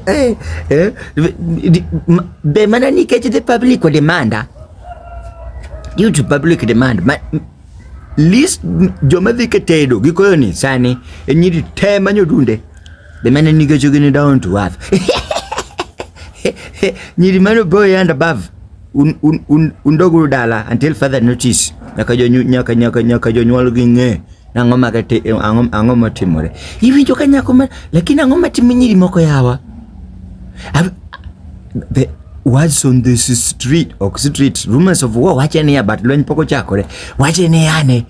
Eh, eh, be mana nikech the public demanda due to public demand ma, list joma dhi ketedo gikoyo ni sani e nyiri te manyo dunde be mana nikech gini down to earth nyiri mano boy and above un, un, un, un dala until further notice nyaka jonyuol nyaka nyaka nyaka jonyuol gi ng'e Ang'o ma kate ang'o ang'o motimore? Iwinjo ka nyako ma lakini ang'o ma timo nyiri moko yawa? Ab- The words on this street ok street rumors of war wache niya but lweny pok ochakore. Wache niya ne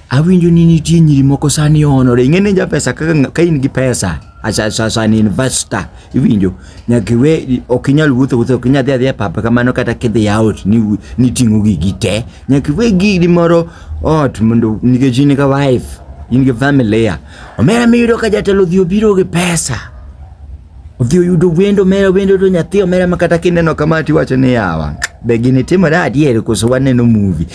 awinjo ni nitie nyiri moko sani onore. Ing'e ni japesa kaka ka in gi pesa as, as, as an investor iwinjo nyaka iwe ok inyal wuotho wuotho ok inyal dhi adhiya papa kamano kata kidhi out ni niting'o gigi te nyaka iwe gigi moro ot mondo nikech in ka wife in gi family ya omera miyudo ka jatelo odhi obiro gi pesa odhi oyudo wendo omera wendo to nyathi omera ma kata kineno kama tiwacho ni yawa be gini timore adier koso waneno movie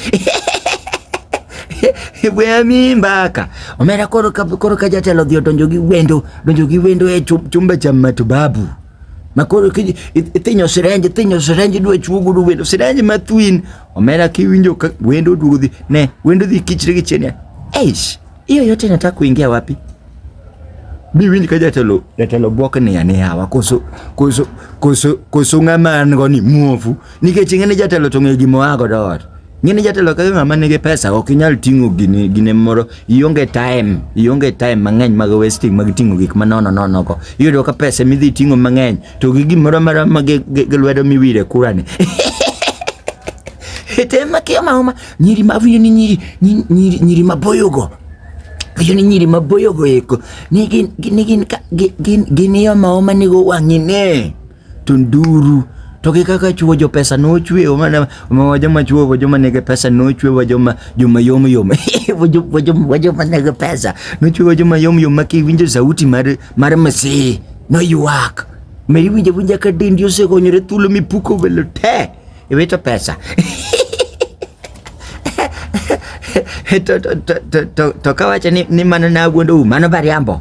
Weya mi mbaka. Omera koro ka koro ka jatelo dhi odonjo gi wendo, donjo gi wendo e chumba cha matibabu. Ma koro ki ithinyo sirenji, ithinyo sirenji dwe chuogo dwe wendo, sirenji ma twin. Omera kiwinjo ka wendo duogo dhi, ne wendo dhi kichre gi chenya. Eish, hiyo yote nataka kuingia wapi? Mi winj ka jatelo jatelo bwok ni ya ni hawa koso koso koso koso ng'ama an go ni muofu nikech ing'e ni jatelo to ng'e gimoa godo ot. Ng'eni jatelo kaka ng'ama nigi pesa ok inyal ting'o gini gine moro ionge time ionge time mang'eny mag wasting mag ting'o gik ma nono nono go iyudo ka pesa midhi ting'o mang'eny to gi gimoro mara ma gi lwedo miwire kura ni ete ma kia ma ma nyiri ma vini ni nyiri nyiri nyiri ma boyo go vini ni nyiri ma boyo go eko ni gin gin gin gin gin yo ma ma ni go wang'ine to nduru to gi kaka chuo jo pesa nochwe mana ma joma chuo wa joma nigi pesa nochwe wa joma joma yom yom wa jo- wa joma wa joma nigi pesa nochwe wa joma yom yom ma kiwinjo sauti mar mar msi noywak ma iwinjo winja ka dendi osegonyore thuolo mipuko welo te iwito pesa to, to, to, to, to, to kawacho ni, ni mano nawuondou mano bariambo